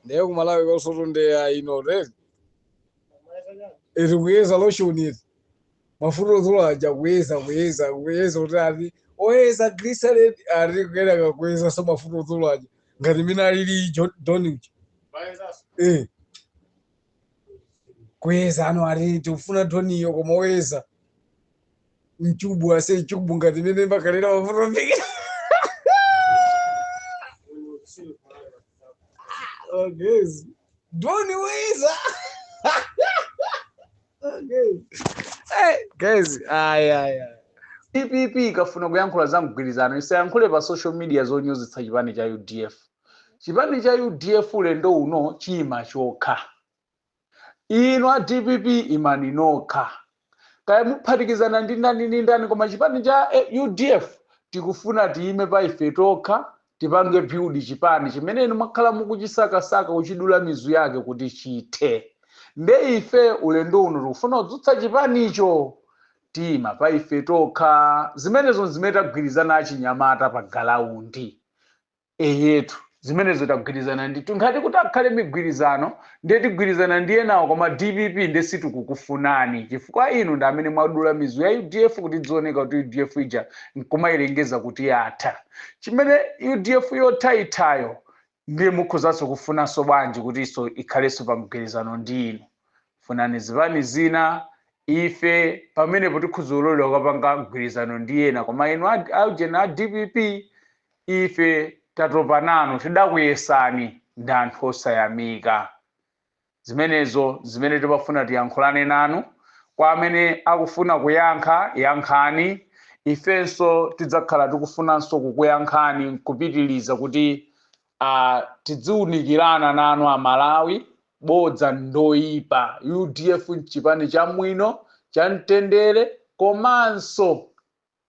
ndiye kumalawi kosotu ndiye ino lezi ili kuyeza lotion ili mafuta odzula aja kuyeza kuyeza kuyeza kuti ati oyeza glycerin ali kuyeneka kuyeza so mafuta odzola aja ngati mene alili donich eh kuyeza ano ati tikufuna doniyo koma oyeza mchubu ase mchubu ngati mmene amakhalira mafuta mbiki guys. Doni oyeza. Guys. Hey, guys, ay ay ay. dpp ikafuna kuyankhula za mgwirizano isayankhule pa social media zonyozitsa chipani cha udf chipani cha udf ulendo uno chiyima chokha inu a dpp imani nokha kaya muphatikizana ndi ndani ndi ndani koma chipani cha eh, udf tikufuna tiyime pa ife tokha tipange build chipani chimene inu mwakhala mukuchisakasaka kuchidula mizu yake kuti chithe nde ife ulendo uno tikufuna kudzutsa chipanicho tiima pa ife tokha zimenezo nzimene tagwirizana achinyamata pa galaundi eyetu zimenezo tagwirizana ndithu ngati kuti akhale migwirizano ndiye tigwirizana ndi enawo koma dpp ndiye sitikukufunani chifukwa inu ndi amene mwadula mizu ya udf kuti dzioneka kuti udf ija nkumayilengeza kuti yatha chimene udf yothaithayo ndiye mukhozanso kufunanso bwanji kuti iyo ikhalenso pa mgwirizano ndi inu funani zipani zina ife pamenepo tikhoza kulolera kukapanga mgwirizano ndi ena koma inu a- aujeni a dpp Ife tatopa nanu, tidakuyesani ndi anthu osayamika. Zimenezo nzimene timafuna tiyankhulane nanu. Kwa amene akufuna kuyankha, yankhani, ifenso tidzakhala tikufunanso kukuyankhani nkupitiliza kuti a tidziunikirana nanu Amalawi. Bodza ndoipa. Udf nchipani chamwino, chamtendere komanso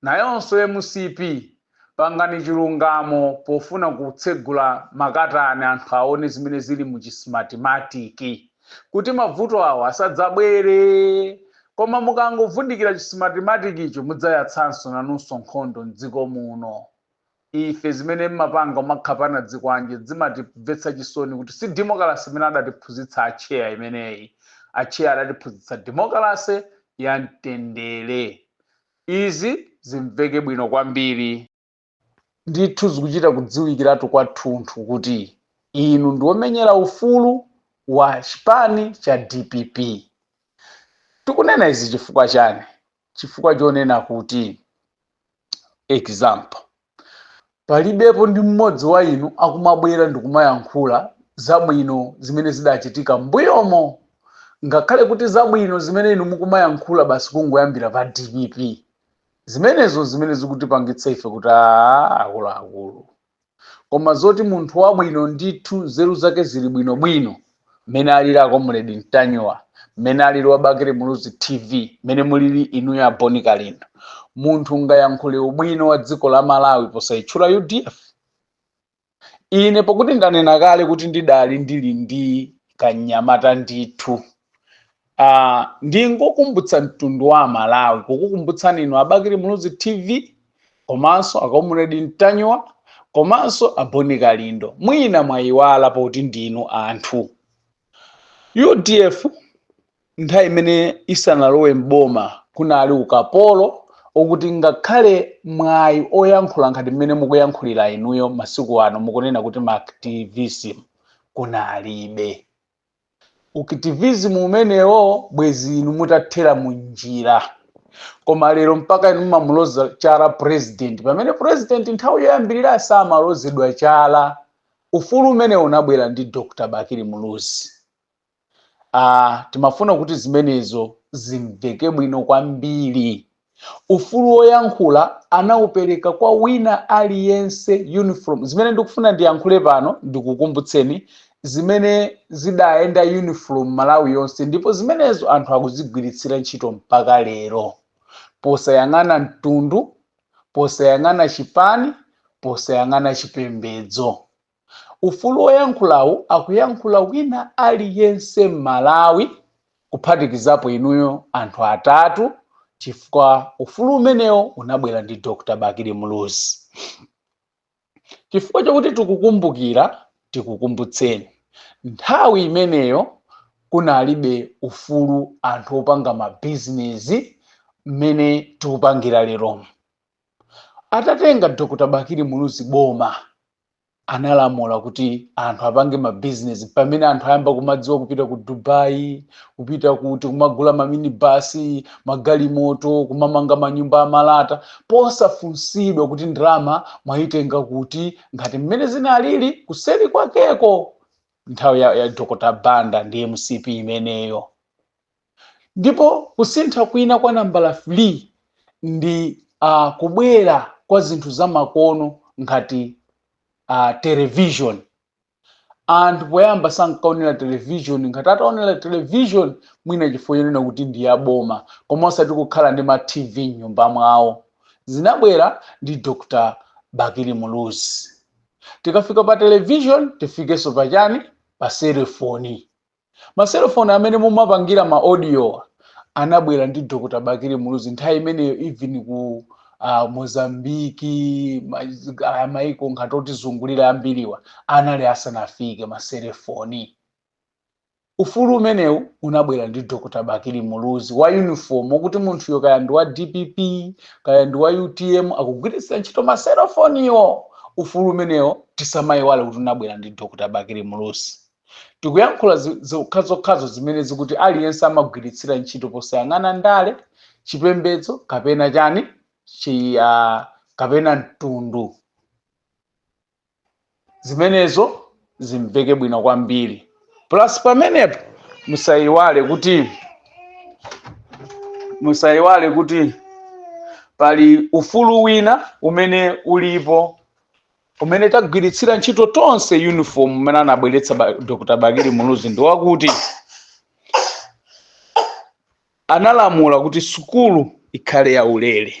Nayonso mcp pangani chilungamo pofuna kutsegula makatani anthu aone zimene zili mu chi smartimatic kuti mabvuto awo asadzabwere koma mukangovundikira chi smartimatic-cho mudzayatsanso nanunso nkhondo mdziko muno. Ife zimene mmapanga kumakhapana ndi zikwanje zimatibvetsa chisoni kuti si demokalase imene adatiphunzitsa Atcheya imeneyi. Atcheya adatiphunzitsa demokalase ya mtendere. Izi zimveke bwino kwambiri. Ndithu zikuchita kudziwikiratu kwathunthu kuti inu ndi omenyera ufulu wa chipani cha dpp. Tikunena izi chifukwa chani? Chifukwa chonena kuti, example. Palibepo ndi mmodzi wa inu akumabwera ndikumayankhula zabwino zimene zidachitika mmbuyomo ngakhale kuti zabwino zimene inu mukumayankhula basi kungoyambira pa DPP zimenezo nzimene zikutipangitsa ife kuti aa akuluakulu koma zoti munthu wabwino ndithu nzeru zake zili bwinobwino mmene alili a Comrade Ntanyiwa mmene alili a Bakili Muluzi TV mmene mulili inuyo a Bon Kalindo munthu ungayankhule ubwino wa dziko la Malawi posayitchula UDF ine pokuti ndanena kale kuti ndidali ndili ndi kanyamata ndithu Uh, ndingokumbutsa mtundu wa aMalawi kukukumbutsani inu a Bakili Muluzi TV komanso a Comrade Ntanyiwa komanso a Bon Kalindo mwina mwayiwala poti ndinu anthu UDF nthawi imene isanalowe mboma kunali ukapolo okuti ngakhale mwayi oyankhula ngati mmene mukuyankhulira inuyo masiku ano mukunena kuti ma activism kunalibe u-activism umenewo bwezi inu mutathera munjira koma lero mpaka inu mumamuloza chala president pamene president nthawi yoyambirira samalozedwa chala ufulu umenewo unabwera ndi Dr Bakili Muluzi ah, timafuna kuti zimenezo zimveke bwino kwambiri Ufulu woyankhula anaupereka kwa wina aliyense uniform zimene ndikufuna ndiyankhule pano ndikukumbutseni zimene zidayenda uniform Malawi yonse ndipo zimenezo anthu akuzigwiritsira ntchito mpaka lero posayang'ana mtundu posayang'ana chipani posayang'ana chipembedzo. Ufulu woyankhulawu akuyankhula wina aliyense Mmalawi kuphatikizapo inuyo anthu atatu chifukwa ufulu umenewo unabwera ndi Dr Bakili Muluzi. Chifukwa chokuti tikukumbukira tikukumbutseni nthawi imeneyo kunalibe ufulu anthu opanga mabizinesi mmene tikupangira leromu. Atatenga Dr Bakili Muluzi boma analamula kuti anthu apange mabizinesi pamene anthu ayamba kumadziwa kupita ku Dubai kupita kuti kumagula maminibasi magalimoto kumamanga manyumba amalata posafunsidwa kuti ndalama mwayitenga kuti ngati mmene zinalili kuseri kwakeko nthawi ya, ya Dr Banda ndi MCP imeneyo Ndipo kusintha kwina kwa nambala 3 ndi a kubwera kwa zinthu zamakono ngati a television. Anthu poyamba sankaonera television ngati ataonera television mwina chifukwa chonena kuti ndi ya boma koma osati kukhala ndi ma TV m'nyumba mwawo. Zinabwera ndi Dr. Bakili Muluzi. Tikafika pa television tifikenso pa chani? Pa selefoni. Maselefoni amene mumapangira ma audiowa anabwera ndi Dr. Bakili Muluzi nthawi imeneyo even ku uh, Mozambiki ma- ah, maiko ngati otizungulira ambiriwa anali asanafike maselefoni. Ufulu umenewu unabwera ndi Dr. Bakili Muluzi wa uniform okuti munthuyo kaya ndi wa DPP kaya ndi wa UTM akugwiritsa ntchito maselefoniwo. Ufulu umenewo tisamayiwale kuti unabwera ndi Dr. Bakili Muluzi. Tikuyankhula zokhazokhazo zimene zokuti aliyense amagwiritsira ntchito posayang'ana ndale, chipembedzo kapena chani chi a kapena mtundu. Zimenezo zimveke bwino kwambiri. Plus pamenepo musaiwale kuti musaiwale kuti pali ufulu wina umene ulipo umene tagwiritsira ntchito tonse uniform umene anabweretsa ba- dr bakili muluzi ndi wakuti analamula kuti sukulu ikhale ya ulere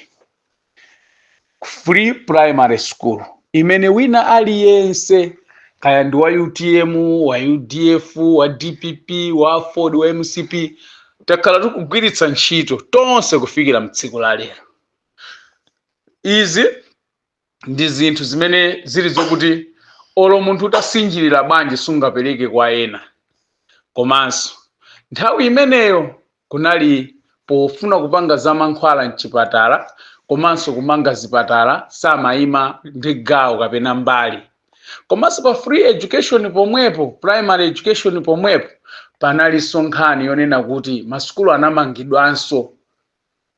free primary school imene wina aliyense kaya ndi wa utm wa udf wa dpp wa aford wa mcp takhala tikugwiritsa ntchito tonse kufikira mtsiku la lero izi ndi zinthu zimene zili zokuti olo munthu utasinjirira bwanji sungapereke kwa ena komanso nthawi imeneyo kunali pofuna kupanga za mankhwala mchipatala komanso kumanga zipatala samayima ndi gawo kapena mbali komanso pa free education pomwepo primary education pomwepo panalinso nkhani yonena kuti masukulu anamangidwanso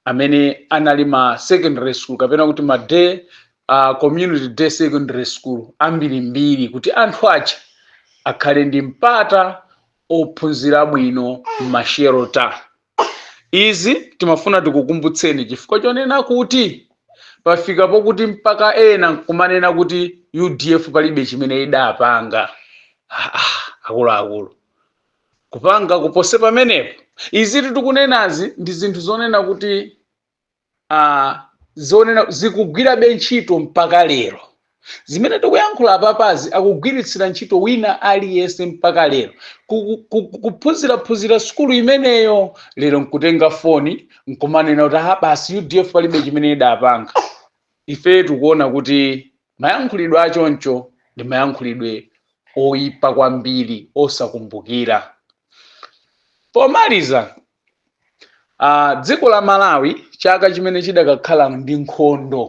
amene anali ma secondary school kapena kuti ma day uh, community day secondary school ambirimbiri kuti anthu aja akhale ndi mpata ophunzira bwino m'mashelter izi timafuna tikukumbutseni chifukwa chonena kuti pafika pokuti mpaka ena nkumanena kuti udf palibe chimene idapanga Ah, ah, akuluakulu kupanga kuposa pamenepo izitu tikunenazi ndi zinthu zonena kuti uh, zonena zikugwirabe ntchito mpaka lero zimene tikuyankhula apapazi akugwiritsira ntchito wina aliyense mpaka lero ku- ku- ku- kuphunziraphunzira sukulu imeneyo lero nkutenga foni nkumanena kuti ha basi UDF palibe chimene idapanga ife tikuona kuti Mayankhulidwe achoncho ndi mayankhulidwe oipa kwambiri osakumbukira. Pomaliza, a, dziko la Malawi chaka chimene chidakakhala ndi nkhondo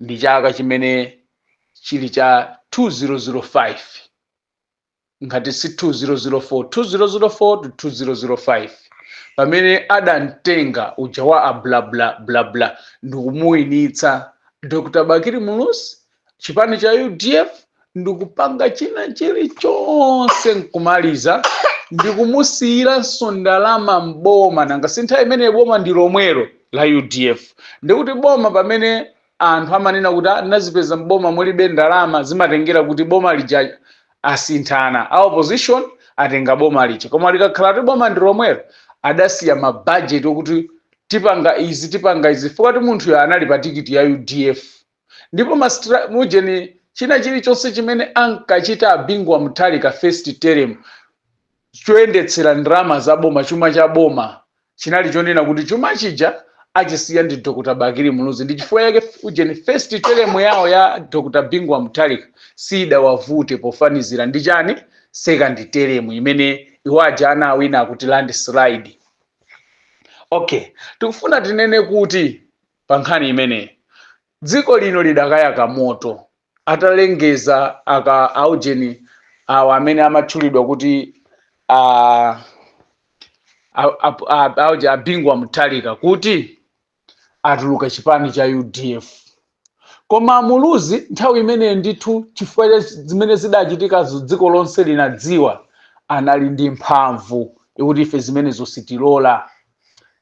ndi chaka chimene chili cha 2005. ngati si 2004 2004 to 2005 pamene adamtenga uja wa a bla bla bla bla ndikumuwinitsa Dr Bakili Muluzi chipani cha UDF ndikupanga china chilichonse nkumaliza ndikumusiyiranso ndalama m'boma nanga si nthawi imene boma ndi lomwelo la UDF ndikuti boma pamene anthu amanena kuti ah, ndinazipeza m'boma mulibe ndalama zimatengera kuti boma lija asinthana a opposition atenga boma lija koma likakhala kuti boma ndi lomwelo adasiya mabajeti okuti tipanga izi tipanga izi chifukwa kuti munthuyo anali pa tikiti ya UDF ndipo mastra- mujeni china chilichonse chimene ankachita a Bingu wa Mutharika first term choyendetsera ndalama za boma, chuma cha boma, chinali chonena kuti chuma chija achisiya ndi Dr. Bakili Muluzi ndi chifukwa yake ujeni first term yawo ya Dr. Bingu wa Mutharika siyidawavute pofanizira ndi chani second term imene iwo aja anawina akuti landslide. Okay, tikufuna tinene kuti pa nkhani imeneyi dziko lino lidakayaka moto atalengeza aka aujeni awa amene amatchulidwa kuti a auja a Bingu wa Mutharika kuti atuluka chipani cha UDF koma a Muluzi nthawi imeneyo ndithu chifukwa zimene zidachitika dziko lonse linadziwa anali ndi mphamvu yokuti ife zimenezo sitilola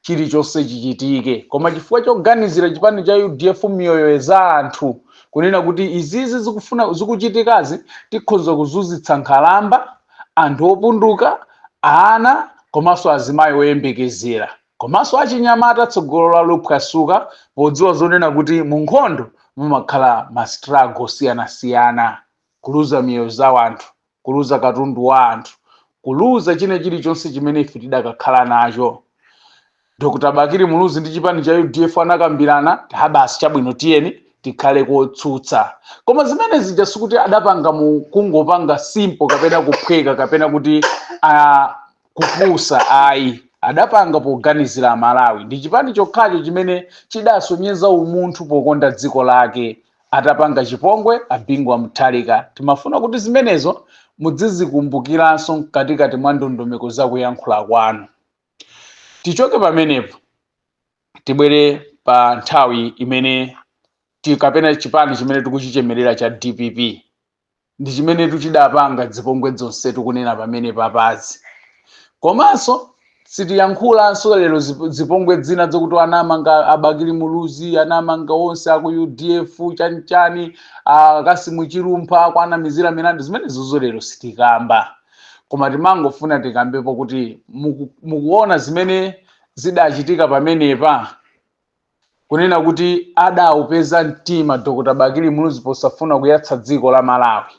chilichonse chichitike koma chifukwa choganizira chipani cha UDF miyoyo za anthu kunena kuti izizi zikufuna zikuchitikazi tikhoza kuzunzitsa nkhalamba anthu opunduka ana komanso azimayi oyembekezera komanso achinyamata tsogolo lawo liphwasuka podziwa zonena kuti mu nkhondo mumakhala ma struggle osiyanasiyana kuluza miyoyo za anthu kuluza katundu wa anthu kuluza china chilichonse chimene ife tidakakhala nacho dr bakili muluzi ndi chipani cha udf anakambirana basi chabwino tiyeni tikhale kotsutsa koma zimene zija sikuti adapanga mu kungopanga simpo kapena kuphweka kapena kuti ah, kupusa ayi adapanga poganizira amalawi ndi chipani chokhacho chimene chidasonyeza umunthu pokonda dziko lake atapanga chipongwe a bingu wa mutharika timafuna kuti zimenezo mudzizikumbukiranso mkatikati mwa ndondomeko za kuyankhula kwanu tichoke pamenepo tibwere pa nthawi imene ti- kapena chipani chimene tikuchichemerera cha dpp ndi chimenetu chidapanga dzipongwe dzonse tikunena pamenepa pazi komanso sitiyankhulanso lero zip- zipongwe dzina dzokuti anamanga abakili muluzi anamanga onse aku udf chanichani akasimu chilumpha kuwanamizira milandu zimenezozo lero sitikamba koma timangofuna tikambepo kuti muku- mukuona zimene zidachitika pamenepa kunena kuti adaupeza mtima Dr Bakili Muluzi posafuna kuyatsa dziko la Malawi.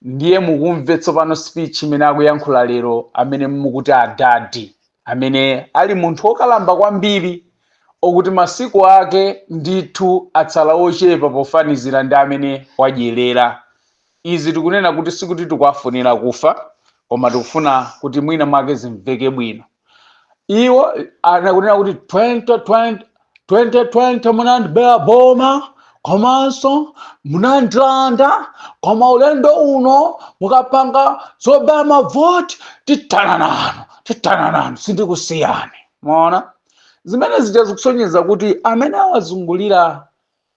Ndiye mukumve tsopano speech imene akuyankhula lero amene mukuti adadi amene ali munthu wokalamba kwambiri okuti masiku ake ndithu atsala ochepa pofanizira ndi amene wadyerera. Izi tikunena kuti sikuti tikuwafunira kufa koma tikufuna kuti mwina mwake zimveke bwino. iwo anakunena kuti 2020 2020 munandibera boma komanso munandilanda koma ulendo uno mukapanga zobera mavoti tithana nanu tithana nanu sindikusiyani mwaona zimene zija zikusonyeza kuti amene awazungulira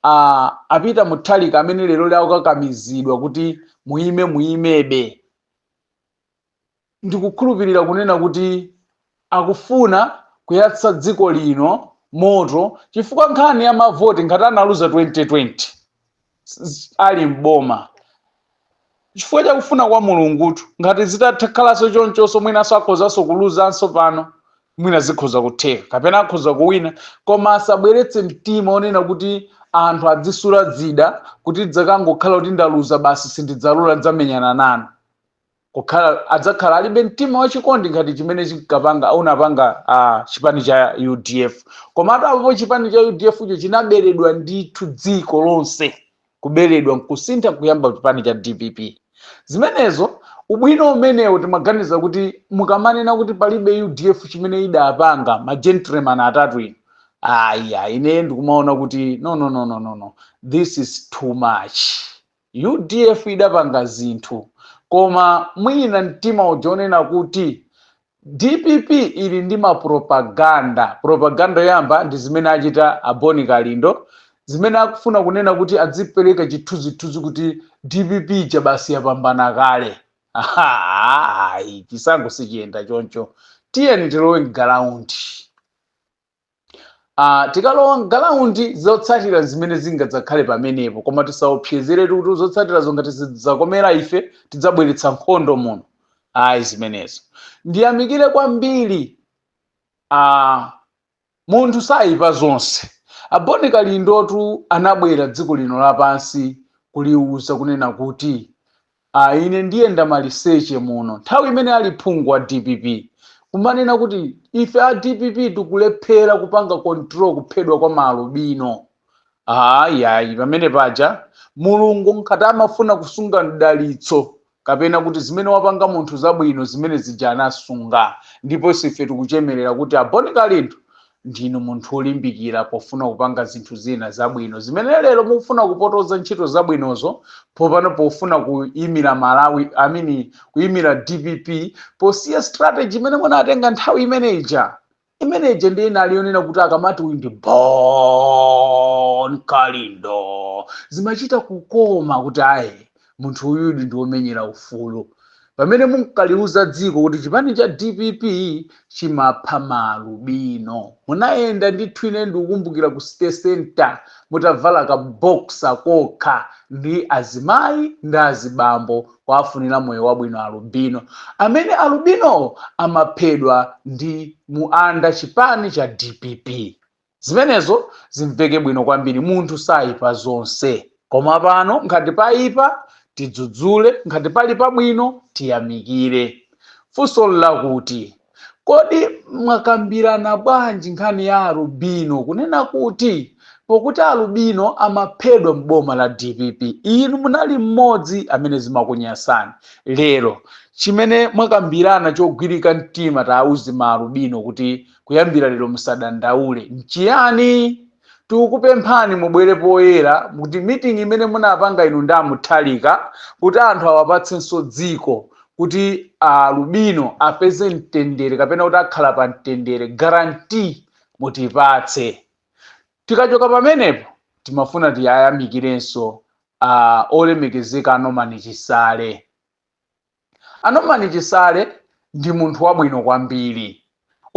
uh, a peter mutharika amene lero akukakamizidwa kuti muime muimebe ndikukhulupirira kunena kuti akufuna kuyatsa dziko lino moto chifukwa nkhani ya mavoti ngati analuza 2020 s- ali m'boma chifukwa chakufuna kwa mulungutu ngati zitatakhalanso chonchonso mwinanso akhozanso kuluzanso pano mwina zikhoza kutheka kapena akhoza kuwina koma asabweretse mtima onena kuti anthu adzisula zida kuti dzakangokhala kuti ndaluza basi sindidzalola ndidzamenyana nanu kukhala adzakhala alibe mtima wachikondi ngati chimene chinkapanga unapanga uh, chipani cha udf komatu apopo chipani cha udf cho chinaberedwa ndithu dziko lonse kuberedwa nkusintha kuyamba chipani cha dpp zimenezo ubwino umenewo timaganiza kuti mukamanena kuti palibe udf chimene idapanga ma gentleman atatu inu aya ine ndikumaona kuti no no no no no no this is too much Udf idapanga zinthu koma mwina mtima uja wonena kuti dpp ili ndi ma propaganda, propaganda yoyamba ndi zimene achita a Boni Kalindo, zimene akufuna kunena kuti adzipereka chithunzithunzi kuti dpp ija basi yapambana kale. Ayi, chisankho sichiyenda choncho. Tiyeni tilowe m'galaundi. Ah, tikalowa m'galaundi zotsatira zimene zingadzakhale pamenepo koma tisaopsezeretu kuti zotsatirazo ngati zidzakomera ife tidzabweretsa nkhondo muno ayi zimenezo ndiyamikire kwambiri ah, munthu sayipa zonse a Boni Kalindotu anabwera dziko lino lapansi kuliuza kunena kuti Ah ine ndiyenda maliseche muno nthawi imene ali phungu wa dpp kumanena kuti ife a dpp tikulephera kupanga control kuphedwa kwa ma alubino haa yayi pamene paja mulungu ngati amafuna kusunga mdalitso kapena kuti zimene wapanga munthu zabwino zimene zija anasunga ndiponso ife tikuchemerera kuti a Bon Kalindo Ndinu munthu wolimbikira pofuna kupanga zinthu zina zabwino zimene lero mukufuna kupotoza ntchito zabwinozo popano pofuna kuimira Malawi I mean kuimira dpp posiya strategy imene munatenga nthawi imene ija imene ija ndiye inali yonena kuti akamati uyu ndi Bon Kalindo zimachita kukoma kuti ayi Munthu uyudi ndi womenyera ufulu. Pamene munkaliuza dziko kuti chipani cha dpp chimapha ma alubino, munayenda ndithu. Ine ndikukumbukira ku City Centre mutavala ka boxer kokha ndi azimayi ndi azibambo kuafunira moyo wabwino alubino. Amene alubino amaphedwa ndi mu under chipani cha dpp. Zimenezo zimveke bwino kwambiri, munthu saipa zonse. Koma pano ngati paipa, tidzudzule, ngati pali pabwino, tiyamikire. Funso n'lakuti, Kodi mwakambirana bwanji nkhani ya alubino kunena kuti pokuti alubino amaphedwa m'boma la dpp inu munali mmodzi amene zimakunyasani? Lero chimene mwakambirana chogwirika mtima tauzeni maalubino kuti kuyambira lero musadandaule nchiyani tikukupemphani mubwere poyera kuti mitingi imene munapanga inu ndi a Mutharika kuti anthu awapatsenso dziko kuti alubino apeze mtendere kapena kuti akhala pa mtendere garanti mutipatse tikachoka pamenepo timafuna tiwayamikirenso uh, olemekezeka a Norman Chisale A Norman Chisale ndi munthu wabwino kwambiri.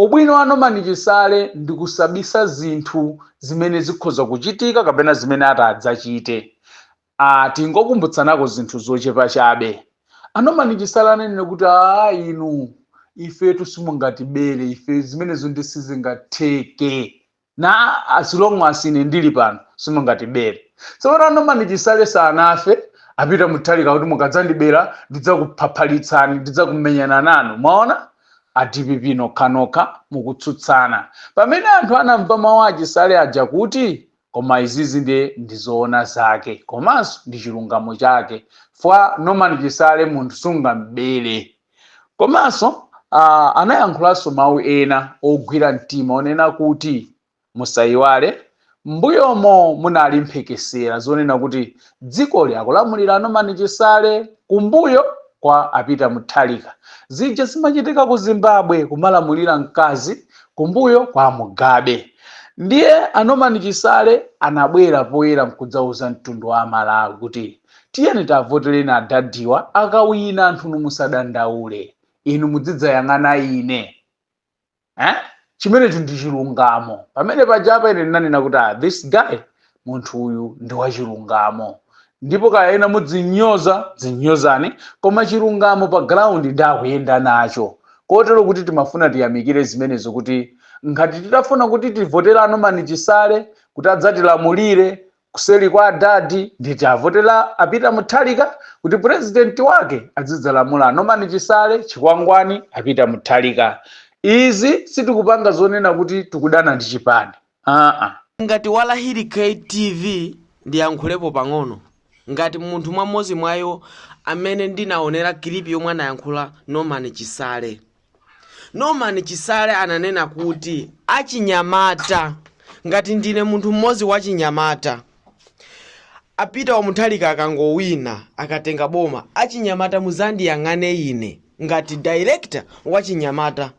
Ubwino wa Norman Chisale ndi kusabisa zinthu zimene zikhoza kuchitika kapena zimene atadzachite. Aaa tingokumbutsanako zinthu zochepa chabe. A Norman Chisale ananena kuti aah inu ifetu simungatibere ife zimenezo nde sizingatheke. na as long as ine ndili pano simungatibere tsopano norman chisale sanafe apita muthalika kuti mukadzandibera ndidzakuphaphalitsani ndidzakumenyana nanu mwaona a dpp nokhanokha mukutsutsana pamene anthu anamva mawu achisale aja kuti koma izizi ndiye ndizoona zake komanso ndi chilungamo chake chifukwa norman chisale munthu sungambere komanso uh, anayankhulanso mawu ena ogwira mtima onena kuti musayiwale m'mbuyomo munali mphekesera zonena kuti dzikoli akulamulira anomani chisale kumbuyo kwa apita muthalika zija zimachitika ku zimbabwe kumalamulira mkazi kumbuyo kwa mugabe ndiye anomani chisale anabwera poyera nkudzauza mtundu wa amalawi kuti Tiyeni tiavotere adadiwa, akawina anthunu musadandaule inu mudzidzayang'ana ine eh? chimenecho ndi chilungamo pamene pajapa ine ndinanena kuti ah, this guy munthu uyu ndi wachilungamo ndipo kaya ena mudzinyoza dzinyozani koma chilungamo pa ground nde akuyenda nacho kotero kuti timafuna tiyamikire zimenezo kuti ngati titafuna kuti tivotere nomani chisale kuti adzatilamulire Kuseli kwa adad nde tiavotere a peter muthalika kuti president wake adzidzalamula anorman chisale chikwangwani a peter muthalika izi sitikupanga zonena kuti tikudana ndi chipani aa. Ngati walahili kt tv ndiyankhulepo pang'ono ngati munthu mmodzi mwa iwo amene ndinaonela kilipi yomwe anayankhula norman chisale. Norman Chisale ananena kuti, Achinyamata, ngati ndine munthu mmodzi wachinyamata, a Peter wa Mutharika akangowina, akatenga boma, achinyamata mudzandiyang'ane ine ngati director wa achinyamata.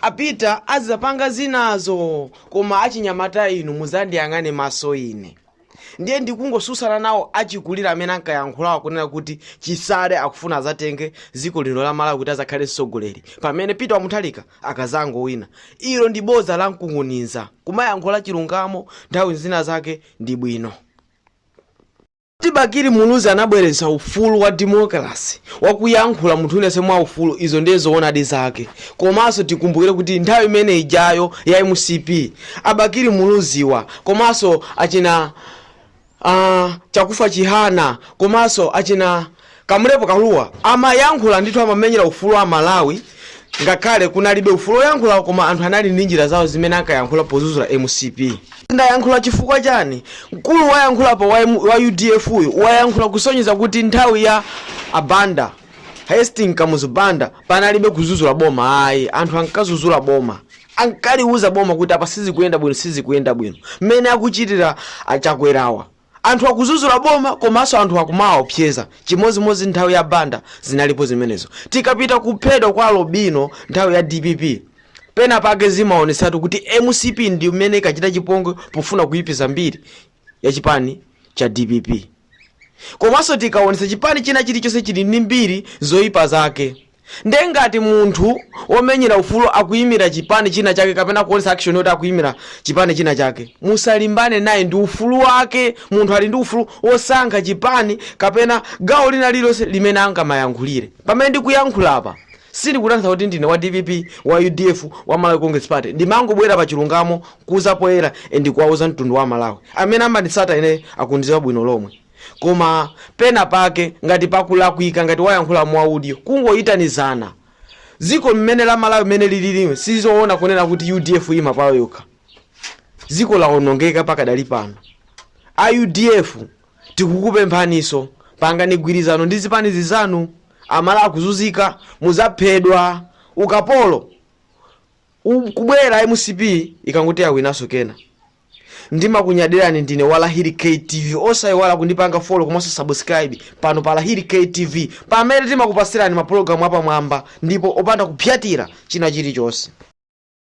A Peter azidzapanga zinazo koma achinyamata inu mudzandiyang'ane maso ine. ndiye ndikungosusana nawo achikulire amene ankayankhulawo kunena kuti chisale akufuna azatenge dziko lino la malawi kuti azakhale mtsogoleri pamene peter wamuthalika akazangowina ilo ndi boza la mkunkhuniza kumayankhula chilungamo nthawi zina zake ndi bwino kuti bakili muluzi anabweretsa ufulu wa demokrasi wakuyankhula munthu unene mwa ufulu izo ndiye zoonadi zake komanso tikumbukire kuti nthawi imene ijayo ya mcp a Bakili Muluzi awa komanso achina uh, Chakufwa Chihana komanso achina Kamulepo Kalua amayankhula ndithu, amamenyera ufulu wa Malawi ngakhale kunalibe ufulu woyankhula, koma anthu anali ndi njira zawo zimene ankayankhula pozuzula mcp. Ndayankhula chifukwa chani? Mkulu wayankhulapo wa, M- wa udf uyu wayankhula kusonyeza kuti nthawi ya abanda Hastings Kamuzu Banda panalibe kuzuzula boma, ayi anthu ankazuzula boma. ankaliuza boma kuti apa sizikuyenda bwino sizikuyenda bwino mmene akuchitira achakwerawa anthu akuzuzula boma komanso anthu akumawaopseza chimodzimodzi nthawi ya banda zinalipo zimenezo tikapita kuphedwa kwa alobino nthawi ya dpp pena pake zimaonetsatu kuti mcp ndi imene inkachita chipongwe pofuna kuyipiza mbiri ya chipani cha dpp komanso tikaonetsa chipani china chilichonse chili ndi mbiri zoyipa zake Nde ngati munthu omenyera ufulu akuyimira chipani china chake kapena kuonesa action yoti akuyimira chipani china chake, musalimbane naye ndi ufulu wake, munthu ali ndi ufulu osankha chipani kapena gawo lina lililonse limene angamayankhulire. Pamene ndikuyankhula apa sindikutanthauza kuti ndine wa dpp, wa udf, wa Malawi Congress Party, ndimangobwera pa chilungamo kuza poyera and kuwauza mtundu wa Amalawi. Amene amanditsata ineyo akundiziwa bwino lomwe. koma pena pake ngati pakulakwika ngati wayankhula mu audio kungoyitanizana ziko mmene la malawi mmene lililimu sizoona kunena kuti udf iima payo yokha ziko lawonongeka pakadali pano a udf tikukupemphaniso pangani gwirizano ndi zipani zizanu Amalawi akuzuzika muzaphedwa ukapolo U- kubwera mcp ikangoti awinaso kena ndimakunyadirani ndine wa lahiri ktv osaiwala kundipanga follow komanso subscribe pano pa lahiri ktv pamene timakupasirani mapulogalamu apamwamba ndipo opanda kupsatira china chilichonse